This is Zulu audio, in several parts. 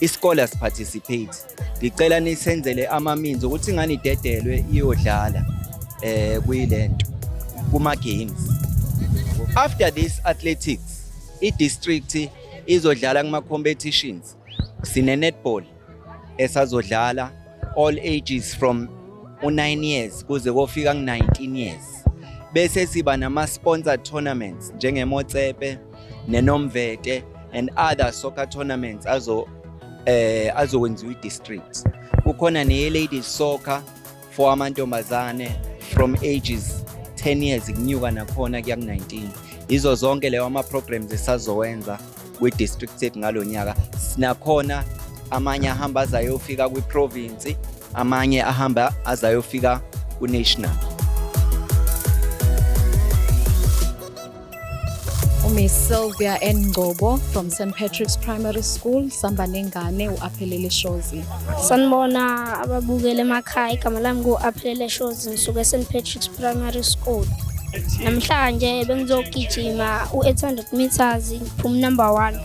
isikole asiparticipate ngicela nisenzele ama-means ukuthi ingane idedelwe iyodlala eh kuyile nto kuma-games after this athletics i-district izodlala kuma-competitions sine-netball esazodlala all ages from u-9 years kuze kofika ku-19 years bese siba nama-sponsor tournaments njengemotsepe nenomvete and other soccer tournaments azo eh azokwenziwa i-districts kukhona neye-ladies soccer for amantombazane from ages 10 years kunyuka nakhona kuya ku-19 yizo zonke leyo ama-programs esazowenza kwi-district sethu ngalo nyaka sinakhona amanye ahamba azayofika kwi-province amanye ahamba azayofika ku-national uMiss Sylvia N. Ngcobo from St. Patrick's Primary School, sihamba nengane u-Aphelele Shozi. Sanibona ababukeli emakhaya, igama lami ngu-Aphelele Shozi, ngisuke e-St. Patrick's Primary School. Namhlanje bengizogijima u-800 meters, ngiphuma number one.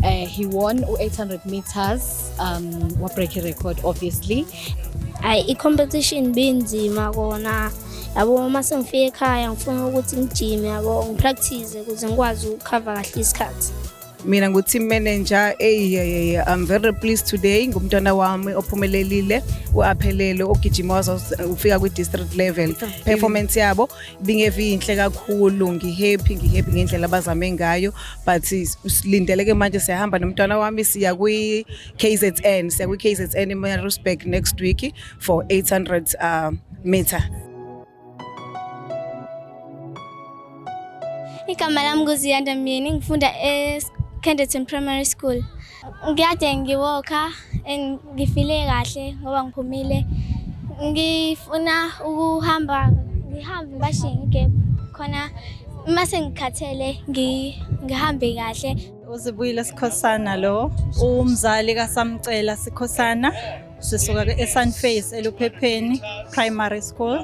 Uh, he won u-800 meters, um, wa-break record obviously. Ayi, i-competition binzima kona. yabo uma sengifika ekhaya ngifuna ukuthi ngijime yabo ngipractice ukuze ngikwazi ukukhava kahle isikhathi mina ngu-team manager eyi i'm very pleased today ngumntwana wami ophumelelile u-aphelele ogijima waze ufika kwi-district level performance yabo bingevi yinhle kakhulu ngihappy ngihappy ngendlela abazame ngayo but silindeleke manje siyahamba nomntwana wami siya kwi-kzn siya kwi-kzn emarusburg next week for 800 uh, meter. Igama lami nguZiyanda Myeni ngifunda eKenderton Primary School. Ngiyade ngiwoka and ngifile kahle ngoba ngiphumile. Ngifuna ukuhamba ngihambe ngibashiye ngigebhu khona uma sengikhathele ngihambe kahle. UZibuyile Sikhosana lo, umzali kaSamcela Sikhosana. sisuka esunface eluphepheni primary school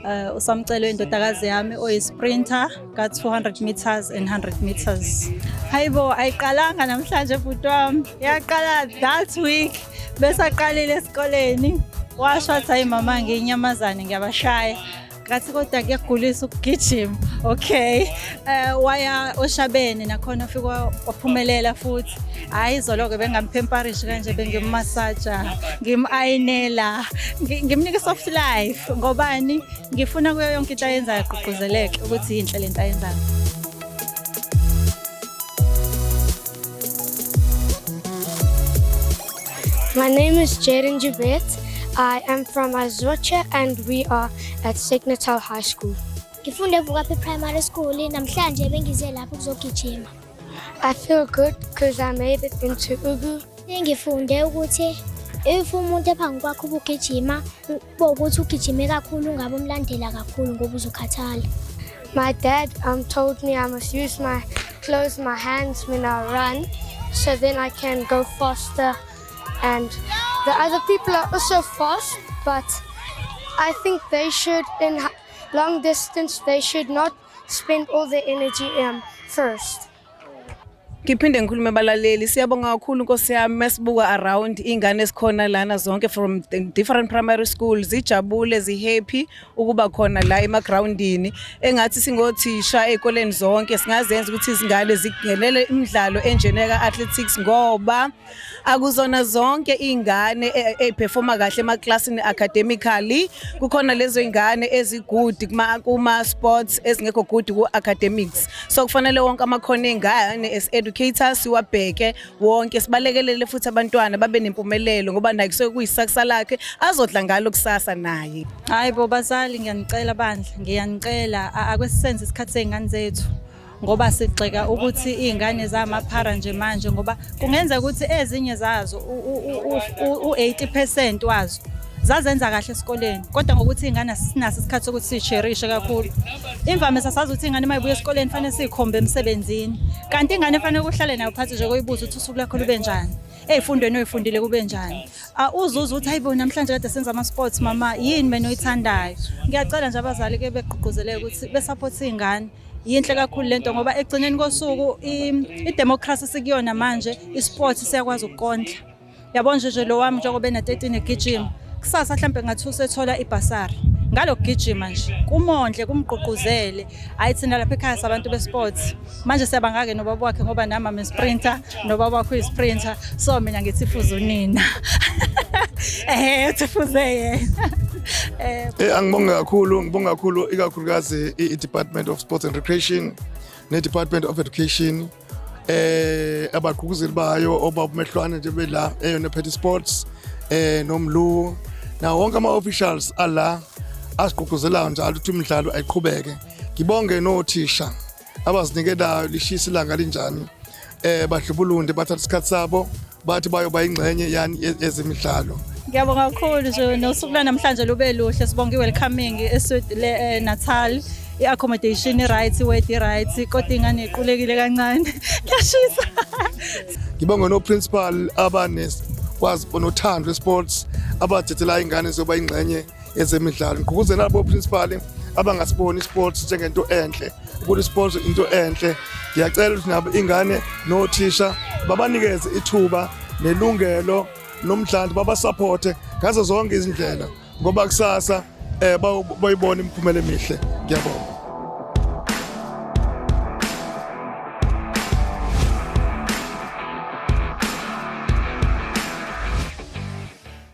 uh, usamcelwe indodakazi yami oyisprinter ka-200 meters and 100 meters hayibo ayiqalanga namhlanje bhuti wami yaqala that week besaqalile esikoleni washo wathi hayi mama ngiyinyamazane ngiyabashaya ngathi kodwa kuyagulisa ukugijima okay um waya oshabeni nakhona ufike waphumelela futhi hhayi izolo-ke bengamphemparishi kanje bengimumasaja ngimu-ayinela ngimnike i-soft life ngobani ngifuna kuyo yonke into ayenzayo agqugquzeleke ukuthi yinhle le nto ayenzayo My name is Jaden Jubet. I am from Azocha and we are at Signatal High School. Ngifunde Vukaphi Primary School namhlanje bengize lapho ukuzogijima. I feel good because I made it into Ugu. Ngifunde ukuthi if umuntu ephambi kwakho ubugijima Bo ukuthi ugijime kakhulu ungabe umlandela kakhulu ngoba uzokhathala. My dad um, told me I must use my close my hands when I run so then I can go faster and the other people are also fast but I think they should in long distance they should not spend all their energy um, first. Ngiphinde ngikhulume balaleli siyabonga kakhulu Nkosi yami masibuka around ingane esikhona lana zonke from different primary schools zijabule zihappy ukuba khona la ema groundini engathi singothisha ezikoleni zonke singazenza ukuthi izingane zigelele imidlalo enjeneka athletics ngoba akuzona zonke izingane eziperforma e, kahle emaclassini academically kukhona lezo izingane ezigood kuma kuma sports ezingekho good ku academics so kufanele wonke amakhono ezingane as educators siwabheke wonke sibalekelele futhi abantwana babe nempumelelo ngoba naye kusuke kuyisakusa lakhe azodla ngalo kusasa naye hayi bo bazali ngiyanicela bandla ngiyanicela akwesisenze isikhathi sezingane zethu ngoba sigxeka ukuthi iy'ngane zamaphara nje manje ngoba kungenzeka ukuthi ezinye zazo u-80 percent wazo zazenza kahle esikoleni kodwa ngokuthi iy'ngane sinaso isikhathi sokuthi siyisherishe kakhulu imvamisa sazi ukuthi ingane uma ibuya esikoleni fanele siyikhombe emsebenzini kanti ingane efanele kuhlale nayo phansi nje koyibuza ukuthi usuku lakho lube njani ey'fundweni oyifundile kube njani uzuza ukuthi hayibo namhlanje kade senza ama-sports mama yini mina oyithandayo ngiyacela nje abazali ke begqugquzeleke ukuthi besaphothe iy'ngane yinhle kakhulu lento ngoba egcineni kosuku idemocracy sikuyona manje isport siyakwazi ukukondla yabo nje nje lo wami njengoba ena-13 egijima kusasa mhlawumbe ngathi usethola ibhasari ngalokugijima nje kumondle kumgqugquzele hayi thina lapha ekhaya sabantu besports manje siyabangake nobaba wakhe ngoba nami ame sprinter nobaba wakho uyisprinter so mina ngithi fuza unina ehe uthi fuze yena Eh, eh angibonge kakhulu ngibonga kakhulu ikakhulukazi i-department of sports and recreation ne-department of education eh abagquguzeli bayo obabumehlwane nje bela eyona phethe sports eh nomlu na wonke ama officials ala asigqugquzelayo njalo ukuthi imidlalo ayiqhubeke ngibonge nothisha abazinikelayo lishisa ilanga linjani eh badlubulunde bathatha isikhathi sabo bathi bayoba ingxenye yani ye- yezemidlalo Ngiyabonga kakhulu nje nosuku lwanamhlanje lube luhle sibonga i-welcoming eSud le eh, Natal i-accommodation i-right i-word i-right kodwa ingane iqulekile kancane kuyashisa ngibonge no-principal abanekwazi onothando lwe-sports abathethela ingane zoba ingxenye ezemidlalo ngigqugquzela labo principal abangasiboni isports njengento enhle ukuthi isports into enhle ngiyacela ukuthi nabo ingane nothisha babanikeze ithuba nelungelo nomdlalo babasupporte ngazo zonke izindlela ngoba kusasa eh bayibona imiphumela emihle ngiyabonga